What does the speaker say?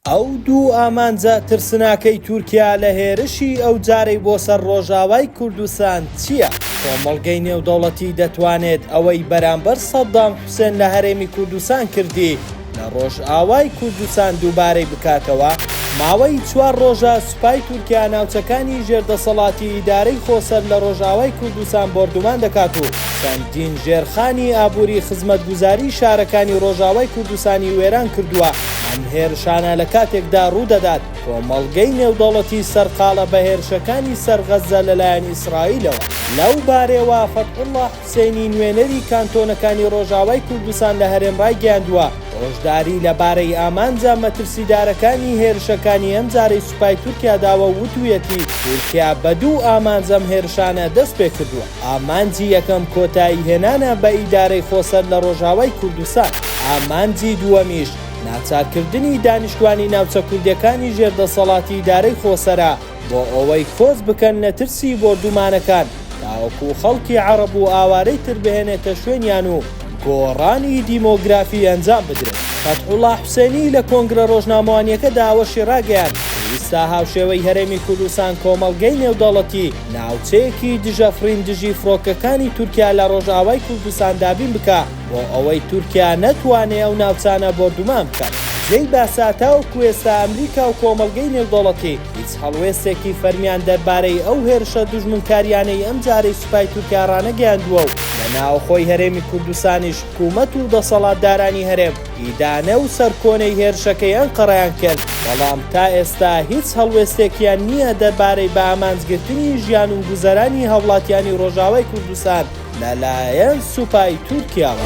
ئەو دوو ئامانجە ترسناکەی تورکیا لە هێرشی ئەوجارەی بۆ سەر ڕۆژاوای کوردستان چییە؟ کۆمەڵگەی نێودەوڵەتی دەتوانێت ئەوەی بەرامبەر سەدام حوسێن لە هەرێمی کوردستان کردی لە ڕۆژئاوای کوردستان دووبارەی بکاتەوە؟ ماوەی چوار ڕۆژە سوپای تورکیا ناوچەکانی ژێر دەسەڵاتی ئیدارەی خۆسەر لە ڕۆژئاوای کوردستان بۆردومان دەکات و چەندین ژێرخانی ئابووری خزمەتگوزاری شارەکانی ڕۆژئاوای کوردستانی وێران کردووە، ئەم هێرشانە لە کاتێکدا ڕوودەدات، کۆمەڵگەی نێودەوڵەتی سەرقاڵە بە هێرشەکانی سەر غەززە لەلایەن ئیسرائیلەوە. لەو بارەیەوە فەتحوڵڵا. حوسێنی نوێنەری کانتۆنەکانی ڕۆژئاوای کوردستان لە هەرێم ڕایگەیاندووە، هۆشداری لەبارەی ئامانجە مەترسیدارەکانی هێرشەکانی ئەمجارەی سوپای تورکیا داوە و وتوویەتی، تورکیا بە دوو ئامانج ئەم هێرشانە دەستپێکردووە، ئامانجی یەکەم کۆتایی هێنانە بە ئیدارەی خۆسەر لە ڕۆژئاوای کوردستان، ئامانجی دووەمیش ناچارکردنی دانیشتوانی ناوچە کوردییەکانی ژێر دەسەڵاتی ئیدارەی خۆسەرە. بۆ ئەوەی کۆچ بکەن لە ترسی بۆردومانەکان تاوەکو خەڵکی عەڕەب و ئاوارەی تر بهێنێتە شوێنیان و گۆڕانی دیمۆگرافی ئەنجام بدرێت. فەتحوڵا حوسێنی لە کۆنگرە ڕۆژنامەوانییەکەدا ئەوەشی ڕاگەیاند کە ئیستا هاوشێوەی هەرێمی کوردستان کۆمەڵگەی نێودەوڵەتی ناوچەیەکی دژەفڕین دژی فڕۆکەکانی تورکیا لە ڕۆژئاوای کوردستان دابین بکا، بۆ ئەوەی تورکیا نەتوانێ ئەو ناوچانە بۆردومان بکات. جێی باسە تاوەکو ئێستا ئەمریکا و کۆمەڵگەی نێودەوڵەتی هیچ هەڵوێستێکی فەرمیان دەربارەی ئەو هێرشە دوژمنکارییانەی ئەمجارەی سوپای تورکیا ڕانەگەیاندووە و لە ناوخۆی هەرێمی کوردستانیش حکوومەت و دەسەڵاتدارانی هەرێم ئیدانە و سەرکۆنەی هێرشەکەی ئەنقەرەیان کرد، بەڵام تا ئێستا هیچ هەڵوێستێکیان نییە دەربارەی بە ئامانجگرتنی ژیان و گوزەرانی هاوڵاتیانی ڕۆژاوای کوردستان. لەلایەن سوپای تورکیاوە.